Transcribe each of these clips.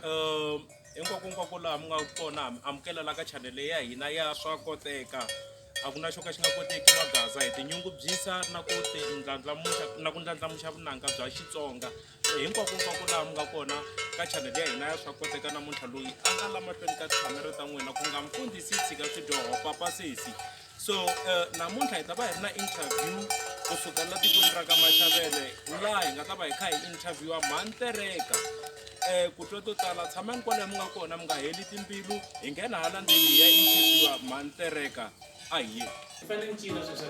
um hinkwakonkwako laha mi nga kona mi amukelela ka chanele ya hina ya swa koteka a ku na xo ka xi nga koteki magaza hi tinyungubyisa na ku ti ndlandlamuxa na ku ndlandlamuxa vunanga bya xitsonga so hinkwakonkwako laha mi nga kona ka chanele ya hina ya swa koteka namuntlha loyi a nga la mahlweni ka tikhamera ta n'wina ku nga mfundhisi tshika swidyoho papa sesi so uh, namuntlha hi ta va hi ri na interview kusuka la tikweni ra ka maxavele laha hi nga ta va hi kha hi interviewa mhantereka um ku twa to tala tshamani kwalayo mi nga kona mi nga heli timbilu hi nghena hala ndzeni hi ya interviewa mhantereka a hi ye fanele ni cina sweswa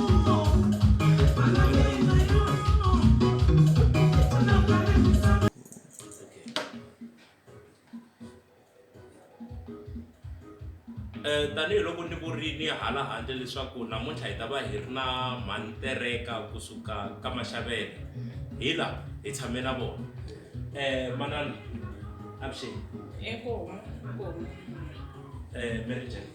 Eh, tanihiloko ni vurini hala handle leswaku namuntlha hi ta va hi ri na mhantereka kusuka ka maxavele hi la hi tshame na vona um manana avuxeni eku huma ku huma um eh, mary jane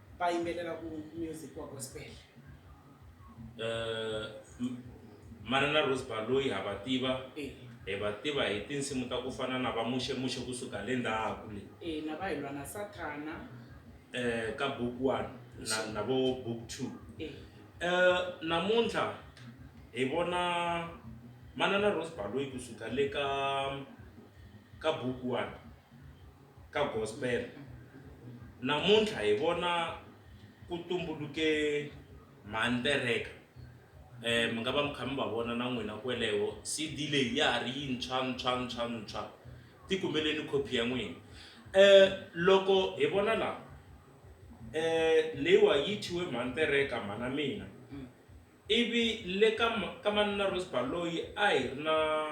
va yimbelela ku music wa gospel eh, mana na rose baloyi ha va tiva eh. hi va tiva hi tinsimu ta ku fana na va muxemuxe kusuka le ndhaku le eh, na va hi lwa na sathana um ka book one na, na vo book two um namuntlha hi vona manana rose baloyi kusuka le ka ka book one ka gospel namuntlha hi vona ku tumbuluke mhani pereka um mi nga va mi kha mi va vona na n'wina kweleho cd leyi ya ha ri yintshwa ntshwa ntshwa ntshwa ti kumeleni copy ya n'wina um loko hi vona laha um leyiwa yi thyiwe mhani pereka mhana mina Ivi le ka, ka Manana Rosbar loyi a hi ri na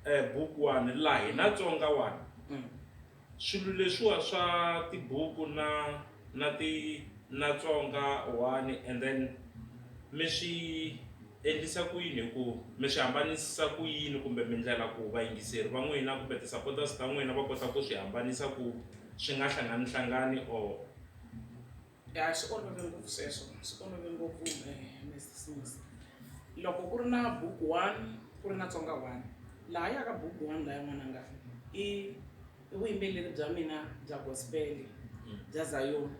eh, bukuwani la hina Tsonga wani mm. swilo leswiwa swa tibuku na na ti na Tsonga wani and then mi swi endlisa ku yini hi ku mi swi hambanisisa ku yini kumbe mindlela ku vayingiseri va n'wina kumbe ti-supporters ta n'wina va kota ku swi hambanisa ku swi nga hlangani hlangani or ya swi olove ngopfu sweswo swi olove ngopfu mrs loko ku ri na book one ku ri na tsonga one laha yaka book one laya n'wananga i vuyimbeleri bya mina bya gospel bya zayoni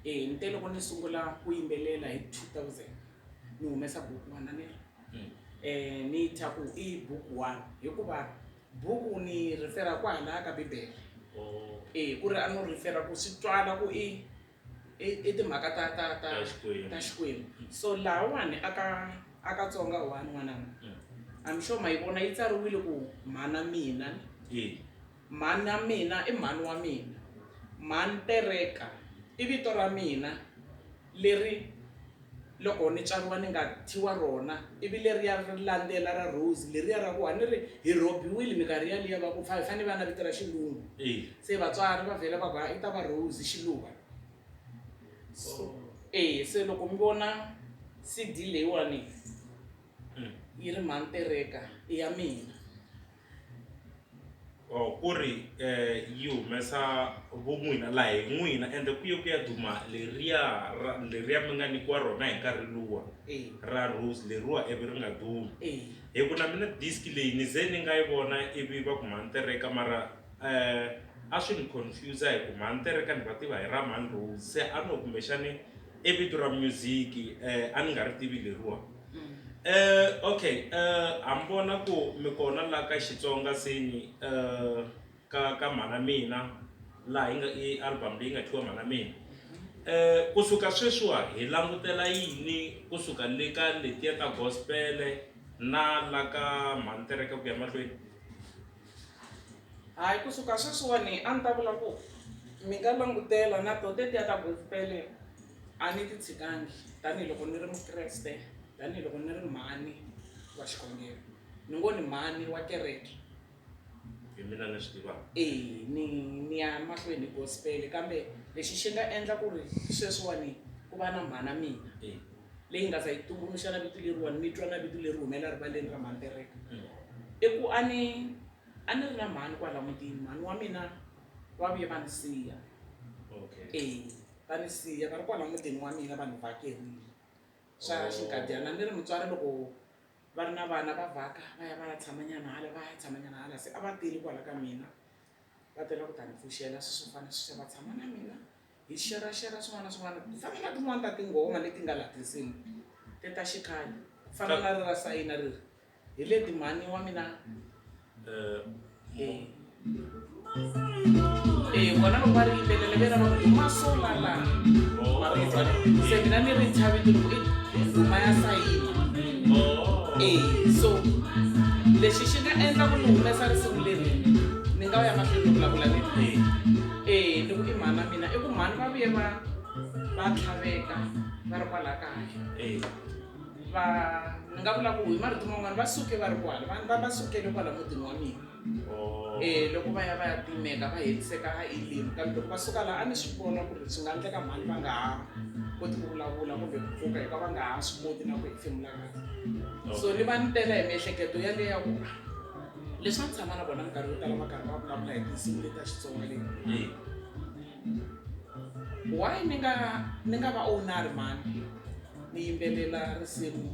e ni te loko ni sungula ku yimbelela hi two thousand ni humesa book one ni um ni thya ku i book one hikuva Buku ni rhifera kwahalaya ka Bibele. E, ku ri a no rhifera ku swi twala ku i i timhaka ta ta ta ta Xikwembu. So lahawani aka aka Tsonga one n'wananga. Mm. I'm sure ma yi vona yi tsariwile ku mhana mina. E. Mhana mina i mhani wa mina. Mhani tereka i vito ra mina. Leri loko ni tswariwa ni nga thyiwa rona, ivi leriya ri landzela ra Rose leriya ra ku a ni ri hi rhobiwile minkarhi yaliya va ku fa hi fanele va na vito ra xilungu. Se vatswari va vhela va ku hayi i ta va Rose xiluva. So e se loko mi vona CD leyiwani yi ri Mhani Tereka i ya mina. or ku ri um yi humesa vun'wini la hi n'wina ende ku ye ku ya duma leriya ra leriya mi nga nyikiwa rona hi nkarhi luwa Eh. ra rose leriwa ivi ri nga dumi Eh. hi ku na mina disk leyi ni ze ni nga yi vona ivi va ku mhani tereka mara um a swi ni confuse hi ku mhani tereka ni va tiva hi ra mhani rose se a no kumbexani i vito ra music eh, a ni nga ri tivi leriwa eh, okay eh, ha mi vona ku mi kona la ka xitsonga seni eh, ka ka mhana mina laha yi nga i album leyi nga thiwa mhana mina eh, kusuka sweswiwa hi langutela yini kusuka le ka letiya ta gospele na la ka mhantereka ku ya mahlweni hayi kusuka sweswiwani a ni ta vula ku mi nga langutela na to tetiya ta gospel-e a ni ti tshikangi tanihiloko ni ri mukreste tanihiloko ni ri mhani wa xikhongelo ni ngo ni mhani wa kereke hi mina ni swi tivaka e ni ni ya mahlweni hi gospel kambe lexi xi nga endla ku ri sweswiwani ku va na mhana mina leyi nga za yi tumbuluxa na vito leriwani ni twa na vito leri humela rivaleni ra mhani tereka i ku a ni a ni ri na mhani kwala mutini mhani wa mina va vuye va ni siya e va ni siya va ri kwala mutini wa mina vanhu vakerile swa oh. xinkadyana ni ri mutswari loko va ri na vana va vhaka va ya va ya tshamanyana hala va ya tshamanyana hala se a va teli kwala ka mina va tela ku ta ni pfuxela swi swo fana swi va tshama na mina hi xerhaxerha swin'wana na swin'wana ku fana na tin'wana ta tinghoma leti nga laha tinsimu te ta xikhale ku fana na ri ra sayina ri ri hi leti mhani wa mina um e vona loko va ri yimbelela ve ra va duma solala mavita se mina ni ri chaviti loko i nduma ya sayina e so lexi xi nga endla ku ni humesa risimu leri ni nga va ya mahlweni ni vulavula ni ri. eya ni ku i mhani wa mina i ku mhani va vuye va va tlhaveka va ri kwala kaya eya va ni nga vula ku hi marito man'wana va suke va ri kwala vanhu va va sukele kwala mutini wa mina Oh. um loko va ya va ya timeka va heliseka a elimu kambe loko va suka laha a ni swi vona ku ri swi nga endleka mhani va nga ha koti ku vulavula kumbe ku pfuka hikuva va nga ha swi koti na ku hefemula kahle so ni va ni tela hi miehleketo yaleyo ya ku leswi va tshama na vona minkarhi yo tala va karhi va vulavula hi tinsimu leti ta xitsonga leti why ni nga ni nga va onari mhani ni yimbelela risimu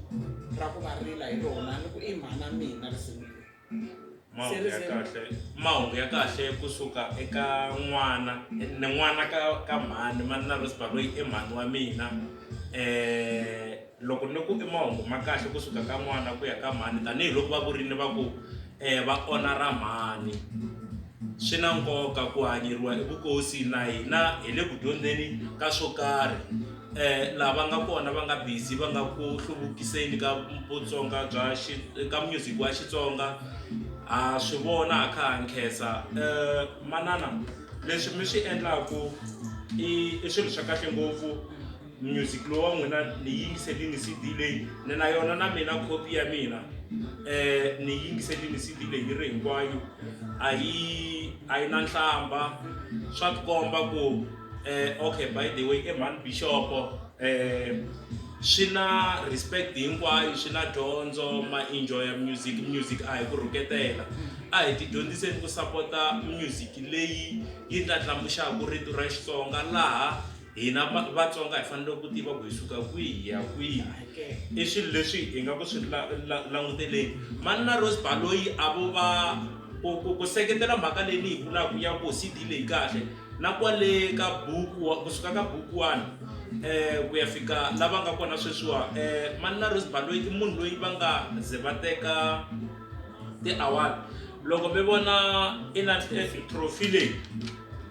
ra ku va rila hi rona ni ku i mhana mina risimu leri mahungu ya kahle mahungu ya kahle kusuka eka n'wana ni n'wana ka ka mhani mani na rosba loyi i mhani wa mina um Loko ni ku i mahungu ma kahle ku suka ka n'wana ku ya ka mhani tanihiloko va vurini va ku um va onha ra mhani swi na nkoka ku hanyeriwa evukosi na hina hi le ku dyondzeni ka swo karhi um lava nga kona va nga busy va nga ku hluvukiseni ka vutsonga bya ka music wa xitsonga ha swi vona ha kha ha nkhensa um manana leswi mi swi endlaku i i swilo swa kahle ngopfu. music lowu wa n'wina ni yingiselini cd leyi ni na yona na mina copy ya mina um ni yingiselini cd leyi yi ri hinkwayo a yi a yi na nhlamba swa tikomba ku um okay by the way emhani bixopo um swi na respect hinkwayo swi na dyondzo ma enjoya music music a hi ku rhuketela a hi tidyondziseni ku sapota music leyi yi ndlandlamuxaka rito ra xitsonga laha hina vatsonga hi fanele ku tiva ku hi suka kwihi hi ya kwihi i swilo leswi hi nga ku swi languteleni mani na rose baloyi a vo va ku seketela mhaka leyi ni yi vulaka ya ku cd leyi kahle na kwale ka buku kusuka ka buku one um ku ya fika lava nga kona sweswiwa um mani na rose baloyi i munhu loyi va nga ze va teka ti-award loko mi vona i na trophy leyi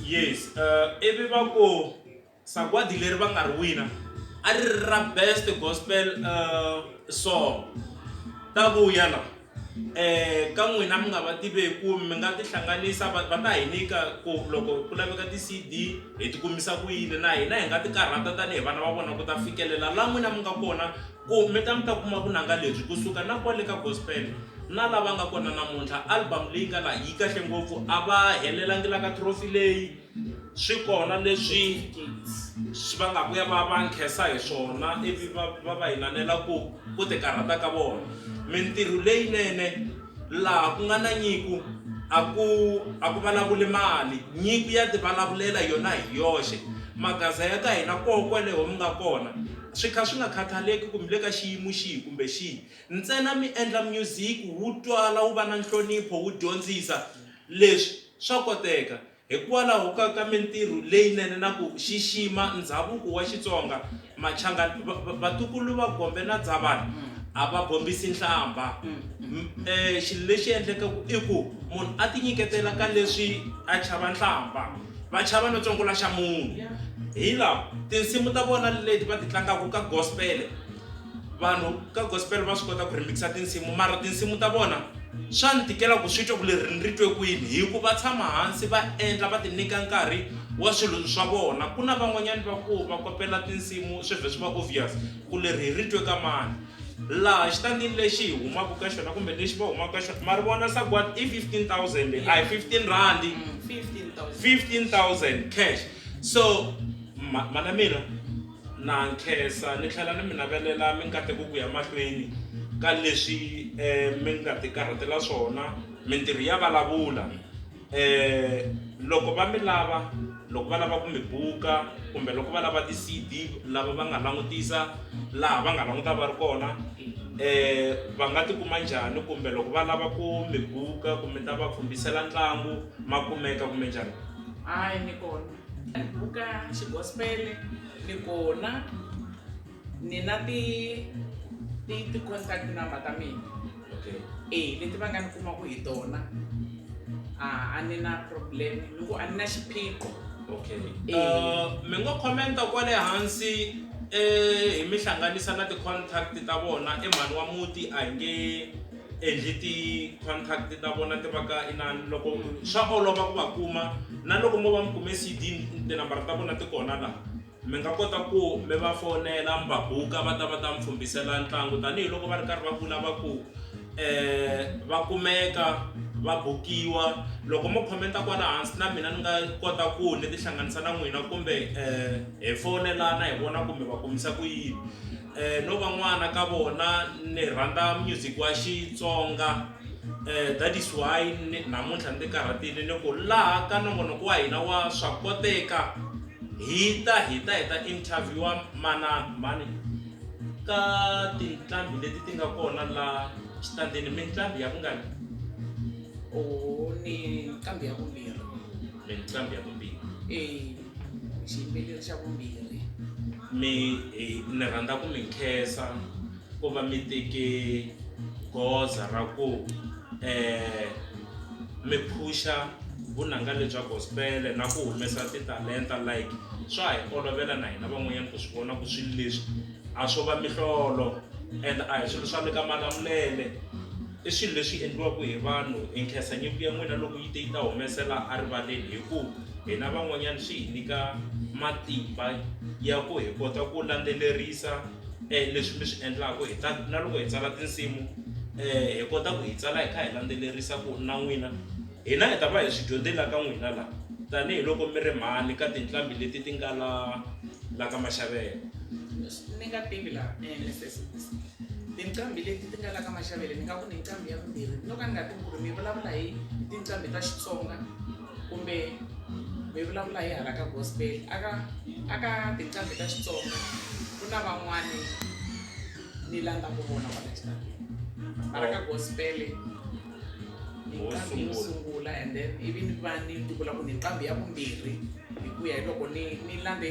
Yes, uh, ivi va ku sagwadi leri va nga ri wina a ri ri ra best gospel uh, song ta vuya la eh ka n'wina mi nga va tiveku mi nga tihlanganisa va ta hi nyika ku loko ku laveka ti-cd hi ti kumisa ku yini na hina hi nga ti karhata tanihi vana va vona ku ta fikelela la n'wina mi nga kona Ku mi ta mi ta kuma vunanga lebyi ku suka na kwale ka gospel na la va nga kona namuntlha. Album leyi nga laha yi kahle ngopfu, a va helelangi la ka trophy leyi, swi kona leswi va nga vuya va va nkhensa hi swona ivi va va va inanela ku ku ti karhata ka vona. Mintirho leyinene laha ku nga na nyiko a ku a ku vulavuli mali, nyiko ya ti vulavulela yona hi yoxe. Magaza ya ka hina koho kwaleho mi nga kona. Swi kha swi nga khathaleki ku mi le ka xiyimo xihi kumbe xihi, ntsena mi endla myuziki wu twala, wu va na nhlonipho, wu dyondzisa. Leswi swa koteka hikwalaho ka ka mintirho leyinene na ku xixima ndhavuko wa Xitsonga. Machangani, va, va, vatukulu va Gombe na Dzavani a va bombisi nhlambha. E, xilo lexi endlekaku i ku munhu a tinyiketela ka leswi a chava nhlambha. va chava no tsongula xa munhu hi laha tinsimu ta vona leti va ti tlangaka ka gospel vanhu ka gospel va swi kota ku rimixa tinsimu mara tinsimu ta vona swa ni tikela ku swi twa ku leri ni ri twe kwini hi ku va tshama hansi va endla va ti nyika nkarhi wa swilo swa vona ku na van'wanyana va ku va kopela tinsimu swi vhe swi va obvious ku leri hi ri twe ka mani laha xitandini lexi hi humaka ka xona kumbe lexi va humaka ka xona ma ri vona sagwadi i 15000 a hi 15 randi 15000 cash so mana mina na nkhensa ni tlhela ni mi navelela mi nkateko ku ya mahlweni ka leswi um mi nga tikarhatela swona mintirho ya vulavula Loko va mi lava, loko va lava ku mi buka kumbe loko va lava ti-CD lava va nga langutisa laha va nga languta va ri kona va nga tikuma njhani kumbe loko va lava ku mi buka ku mi ta va khomisela ntlangu ma kumeka kumbe njhani? Hayi ni kona buka xigospele ni kona. ni na ti ti ti contact number ta mina okay eh leti va nga ni kumaku hi tona a a ni na problem ni ku a ni na xiphiqo okay uh, mi ngo commenta kwale hansi eh hi mi hlanganisa na ti contact ta vona e mhani wa muti a hi nge endli ti contact ta vona ti va ka inani loko swa olova ku va kuma na loko mo va mi kume cd tinambara ta vona ti kona laha Mi nga kota ku mi va fonela mi va buka va ta va ta mi pfumbisela ntlangu tanihiloko va ri karhi va vula va ku um va kumeka va bukiwa loko mo comment-a kwala hansi na mina ni nga kota ku ni tihlanganisa na n'wina kumbe um hi fonelana hi vona ku mi va kumisa ku yini. Eh, no va n'wana ka vona ni rhandza music wa xitsonga eh, that is why namuntlha ndzi karhatile ni ku laha ka nongonoko wa hina wa swa koteka hi ta hi ta hi ta interviewa mana mani ka tinqambi leti ti nga kona la xitandini minqambi ya vungani o ni nqambi ya vumbirhi minqambi ya vumbirhi eh. xiyimbeleri xa vumbirhi mi ni rhandza ku mi nkhensa ku va mi teke goza ra ku um mi phuxa vunanga lebya gospele na ku humesa titalenta like swa hi olovela na hina van'wanyana ku swi vona ku swilo leswi a swo va mihlolo and a hi swilo swa le ka malamulele I swilo leswi endliwaka hi vanhu hi nkhensa nyiko ya n'wina loko yi te yi ta humesela erivaleni hi ku hina van'wanyana swi hi nyika matimba ya ku hi kota ku landzelerisa um leswi mi swi endlaka hi ta na loko hi tsala tinsimu um hi kota ku hi tsala hi kha hi landzelerisa ku na n'wina hina hi ta va hi swi dyondzela ka n'wina laha tanihiloko mi ri mhani ka tinqambi leti ti nga la la ka maxavelo. ni nga tivi laha ni endle sesibisi tinqambi leti ti nga la ka maxavele ni nga ku ni nqambi ya vumbirhi no ka ni nga tivi ku ri mi vulavula hi tinqambi ta xitsonga kumbe mi vulavula hi hala ka gospel aka aka tinqambi ta xitsonga ku na van'wani ni landza ku vona kwala xitatini mara ka gospel inqambi yo sungula and then ivi ni va ni tikula ku ni nqambi ya vumbirhi hi ku ya hi loko ni ni landze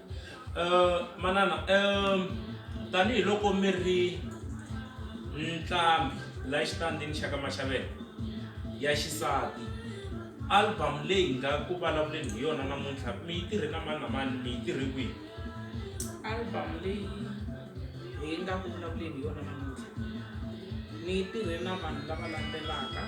manana tanihiloko mi ri ntlhambhi la xitandini xa ka Maxavela ya xisati album leyi hi nga ku vulavuleni hi yona namuntlha mi yi tirhe na mani na mani mi yi tirhe kwihi album leyi. hi nga ku vulavuleni hi yona namuntlha ni tirhe na vanhu lava landzelaka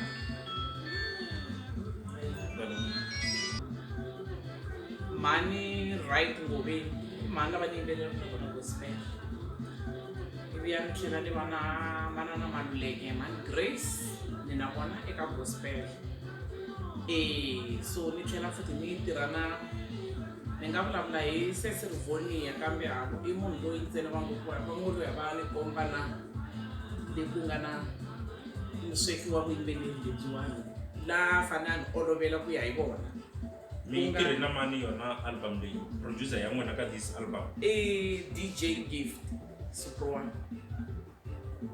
mhani right ngoveni mhani lava ni yimbelela na vona gospel ivi ya ni tlhela ni va na manana maluleke mhani grace ni na vona eka gospel e so ni tlhela futhi ni tirha na ni nga vulavula hi sesi rivonia kambe a ku i munhu loyi ntsena va ngo ku ri va ngo loyi a va ni komba na leyi ku nga na musweki wa vuyimbeleri lebyiwani la fanele a ni olovela ku ya hi vona mi yi tirhe na mani yona album leyi producer ya n'wina ka this album i dj gift suprowana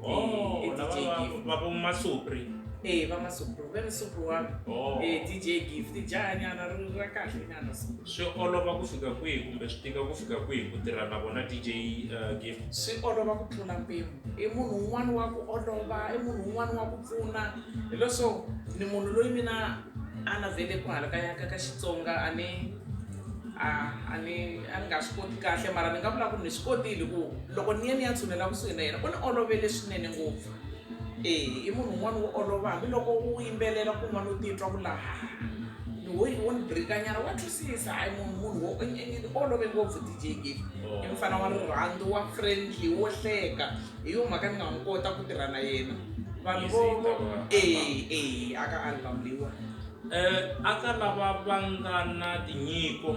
Oh, eh, na DJ va- Gift. va- va vo masupri Eh, va masupro. Ve musupro wa Oh. eh, DJ Gift. Jaha nyana ri ra kahle nyana so. swi olova ku fika kwihi kumbe swi tika ku fika kwihi ku tirha na vona dj uh, gift Swi olova ku tlula mpimo. I munhu un'wana wa ku olova, i munhu un'wana wa ku pfuna. Hileswo ni munhu loyi mina a na vele ku halakanya ka ka Xitsonga a ni a a ni a ni nga swi koti kahle mara ni nga vula ku ni swi kotile ku loko ni ye ni ya tshunela kusuhi na yena u ni olovele swinene ngopfu e i munhu un'wana wo olova hambiloko u yimbelela kun'wana u titwa ku laha ni wo wo ni birikanyana wa twisisa hayi munhu munhu wo ni olove ngopfu dj gif oh. i mfana wa rirhandzu wa friendly wo hleka hi yo mhaka ni nga n'wi kota ku tirha na yena vanhu vo e e aka album leyiwani Eka lava va nga na tinyiko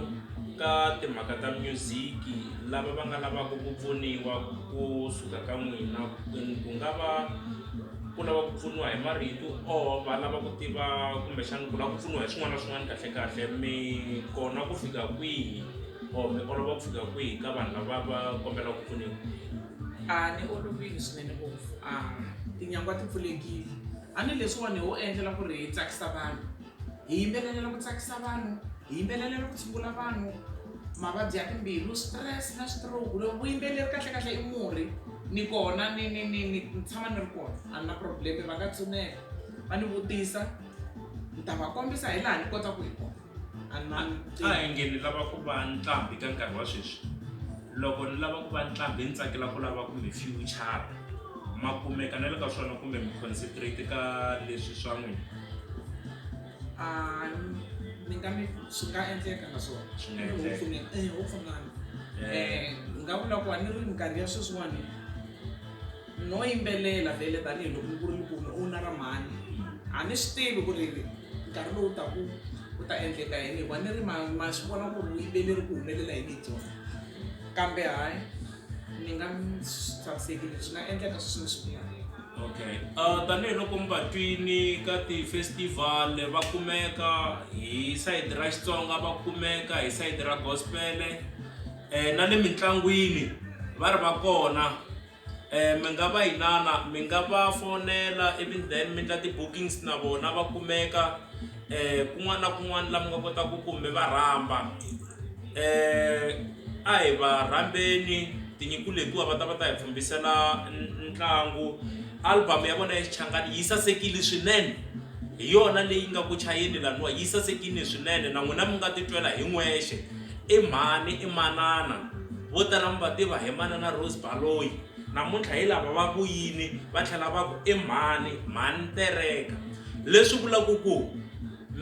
ka timhaka ta myuziki lava va nga lavaka ku pfuniwa ku suka ka n'wina ku nga va ku lava ku pfuniwa hi marito or va lava ku tiva kumbexana ku lava ku pfuniwa hi swin'wana na swin'wana kahlekahle mi kona ku fika kwihi or mi olova ku fika kwihi ka vanhu lava va kombelaka ku pfuniwa? A ni olovile swinene ngopfu a tinyangwa ti pfulekile. A ni leswiwani ho endlela ku ri hi tsakisa vanhu, hi yimbelelela ku tsakisa vanhu, hi yimbelelela ku tshungula vanhu mavabyi ya timbilu, stress na stroke. Loko vuyimbeleri kahlekahle i murhi ni kona ni ni ni ni ni tshama ni ri kona a ni na problem-e va nga tshinela va ni vutisa ni ta va kombisa hi laha ni kotaka hi kona. a ni a hi nge ni lava ku va nqambi ka nkarhi wa sweswi loko ni lava ku va nqambi ni tsakela ku lava kumbe future ma kumeka na le ka swona kumbe mi concentrate ka leswi swa n'wina a ni nga mi swi nga endleka na swona Swi nga endleka. Hopefully, eh, hopefully. Eh, Eh, ni nga vula ku a ni ri minkarhi ya sweswiwani no yimbelela vhele tanihiloko mi ku ri mi ku mi owner ra mhani a mi swi tivi ku ri nkarhi lowu taku ku ta endleka yini hikuva ni ri ma ma swi vona ku ri vuyimbeleri ku humelela yini hi byona kambe hayi ni nga mi tshamisekile swi nga endleka sweswi ni swi vulaka okay uh, tanihiloko mi va twini ka ti-festival va kumeka hi sayiti ra xitsonga va kumeka hi sayiti ra gospele um na le mintlangwini va ri va kona Um mi nga va inana mi nga va fonela ivi then mi endla ti-bookings na vona va kumeka um kun'wana na kun'wana laha mi nga kotaka ku ku mi va rhamba um a hi va rhambeni tinyiko letiwa va ta va ta hi pfhumbisela ntlangu album ya vona ya xichangani yi sasekile swinene hi yona leyi nga ku chayeni laniwa yi sasekile swinene na n'wina mi nga titwela hi n'wexe. I mhani i manana, vo tala mi va tiva hi Manana Rose Baloyi. Namuntlha hi lava va ku yini va tlhela va ku i mhani, mhani ntereka. Leswi vulaka ku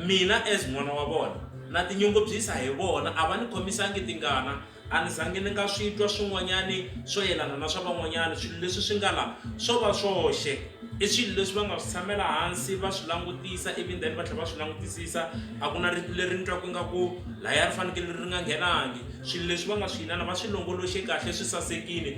mina as n'wana wa vona na tinyungubyisa hi vona, a va ni khomisangi tingana, a ni zangi ni nga swi twa swin'wanyani swo yelana na swa van'wanyani, swilo leswi swi nga la swo va swoxe. I swilo leswi va nga swi tshamela hansi va swi langutisa ivi then va tlhela va swi langutisisa. a ku na rito leri ni twaku ingaku laya ri fanekele ri nga nghenangi swilo leswi va nga swi yinana va swi longoloxe kahle swi sasekile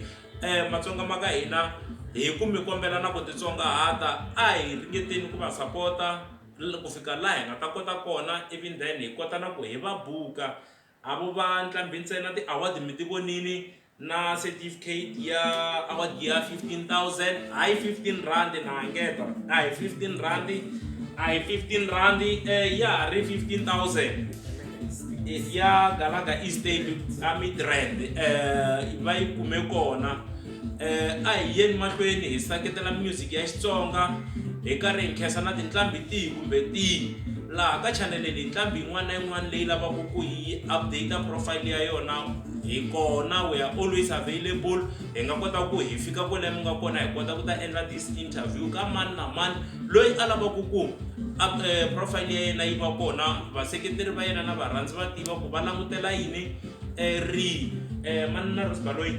um matsonga ma ka hina hi ku mi kombela na ku titsongahata a hi ringeteni ku va sapota ku fika laha hi nga ta kota kona even then hi kota na ku hi va buka A vo va ntlambi ntsena ti award mi ti vonini na certificate ya award ya 15000 hayi 15 rand na hangeta a hi 15 rand a hi 15 rand eh, ya ha ri 15000 eh, ya galaga east aid a midrand eh, va yi kume kona um a hi yeni mahlweni hi seketela music ya xitsonga hi karhi hi nkhensa na tinqambi tihi kumbe tihi laha ka chaneleni hi nqambi yin'wana na yin'wana leyi lavaka ku yi update profile ya yona hi kona we are always available hi nga kota ku hi fika kwale mi nga kona hi kota ku ta endla this interview ka mani na mani loyi a lavaka ku eh, profile ya yena yi va kona vaseketeri va yena na varhandzi va tiva ku va langutela yini um ri um eh, mani na rosbaloyi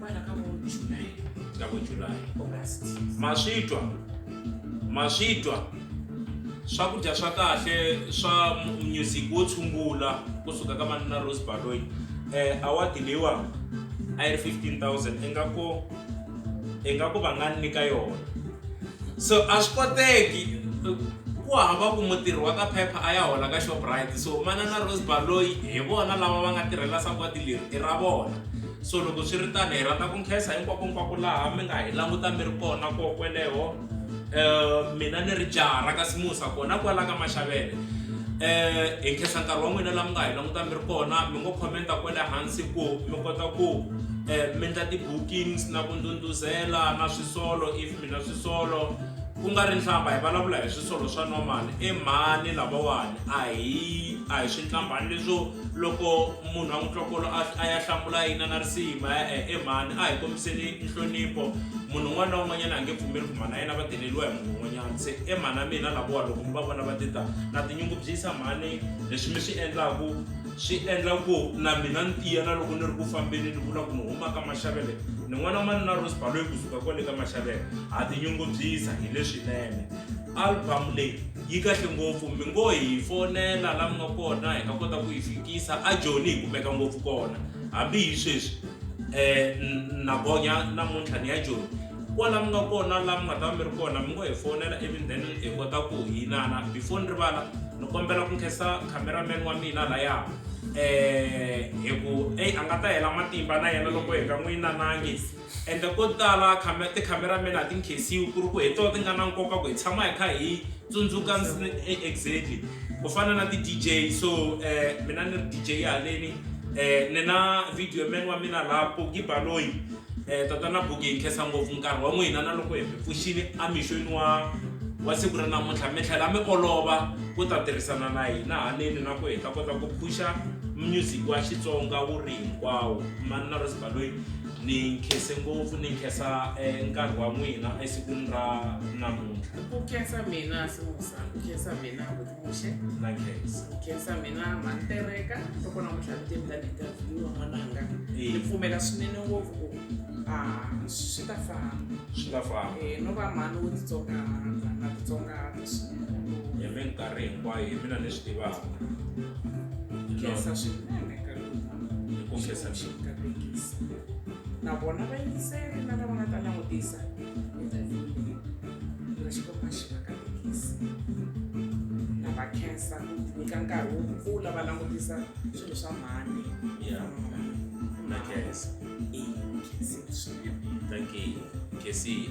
kwana ka vo july ka vo july august maswitwa maswitwa swakudya swa kahle swa music wo tshungula kusuka ka manana rose baloyi um eh, awadi leyiwani a yi ri 15000 ingaku ingaku va nga nyika yona so a swi koteki ku hava ku mutirhi wa ka phepha a ya hola ka shoprite so mana na rose baloyi hi vona lava va nga tirhela sagwadi leri i ra vona so loko swi ri tano hi rhandza ku nkhensa hinkwakonkwako laha mi nga hi languta mi ri kona ko kweleho um mina ni ri jaha ra ka simusa kona kwala ka maxavele eh hi nkhensa nkarhi wa n'wina la mi nga hi languta mi ri kona mi ngo commenta kwale hansi ku mi kota ku um mi endla ti-bookings na ku ndhundhuzela na swisolo if mina swisolo ku nga ri nhlamba hi vulavula hi swisolo swa normal emhani lavawani a hi a hi swi nhlambani leswo loko munhu a n'wi twa kolo a ya hlambula yina na risima e-e e mhani a hi kombiseni nhlonipho munhu un'wana na un'wanyana a nge pfumeli ku mhani a yena va deleriwa hi munhu un'wanyana se e mhani a mina lavowa loko mi va vona va tita na tinyungubyisa mhani leswi mi swi endlaku swi endla ku na mina ni tiya na loko ni ri ku fambeni ni vula ku ni huma ka maxavele ni n'wana wa mani na rose baloyi kusuka kwale ka maxavele ha tinyungubyisa hi leswinene album leyi yi kahle ngopfu mi ngo hi fonela la mi nga kona hi nga kota ku yi fikisa a joni hi kumeka ngopfu kona hambi hi sweswi um na gonya namuntlha ni ya joni kwala mi nga kona la mi nga ta va mi ri kona mi ngo hi fonela even then hi kota ku hinana before ni rivala ni kombela ku nkhensa cameraman wa mina laya um hi ku eyi a nga ta hela matimba na yena loko hi nga n'wi yinanangi ende ko tala tikhamerameni a ti nkhensiwi ku ri ku hi tona ti nga na nkoka ku hi tshama hi kha hi tsundzuka e, exactly ku fana na ti-dj so um mina ni ri dj haleni um ni na video man wa mina laha poki baloyi um tatana buki hi nkhensa ngopfu nkarhi wa n'wina na loko hi mi pfuxile amixweni wa wa siku ra namuntlha mi tlhela mi olova ku ta tirhisana na hina haleni na ku hi ta kota ku phuxa music wa xitsonga wu ri hinkwawo mani na rosibaloyi ni nkhense ngopfu ni nkhensa eh, nkarhi wa n'wina esikwini ra namuntlha ku khensa mina simusa ku khensa mina vutimuxe na nkhensa ku khensa mina mantereka loko namuntlha ni teni tani interview wa n'wananga ni Eh, pfumela swinene ngopfu ku a swi ta famba swi ta famba Eh, no va mhani wo titsongahata na titsongahata swinene hi minkarhi hinkwayo hi mina ni swi tivaka khensa swinene kombisa vuxeni ka thekisi na vona vayingiseri na lava nga ta langutisa na xikomba xi va ka thekisi na va khensa ku nyika nkarhi wo kula va langutisa swilo swa mhani na khensa swinene thank you kesiya